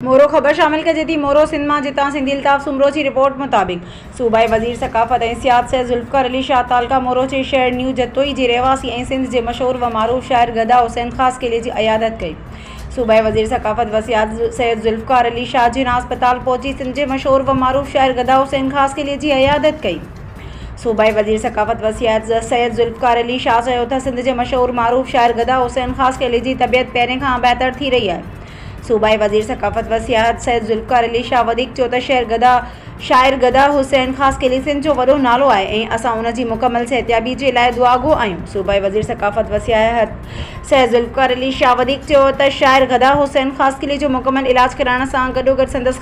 مورو، خبر شامل ڪجي ٿي مورو سنڌ مان جتان سنڌي الطاف سومرو جي رپورٽ مطابق صوبائي وزير ثقافت ۽ سياحت سيد ذوالفقار علي شاهه تعلقه مورو جي شهر نيو جتوئي جي رهواسي ۽ سنڌ جي مشهور و معروف شاعر گدا حسين خاصخيلي جي عيادت ڪئي صوبائي وزير ثقافت و سياحت سيد ذوالفقار علي شاهه جناح اسپتال پهچي سنڌ جي مشهور و معروف شاعر گدا حسين خاصخيلي جي عيادت ڪئي صوبائي وزير ثقافت و سياحت سيد ذوالفقار علي شاهه چيو تھ سنڌ جي مشهور معروف شاعر گدا حسين خاصخيلي جي طبيعت پهرين کان بهتر ٿي رهي آهي. صوبائي وزير ثقافت و سياحت سيد ذوالفقار علي شاهه وڌيڪ چيو ته شعر گدا شاعر گدا حسين خاص کليسين جو وڏو نالو آهي ۽ اسان ان جي مڪمل صحتيابي جي لاء دعاگو آهيون صوبائي وزير ثقافت و سياحت سيد ذوالفقار علي شاهه وڌيڪ چيو ته شاعر گدا حسين خاصخيلي جو مڪمل علاج ڪرائڻ سان گڏوگڏ سندس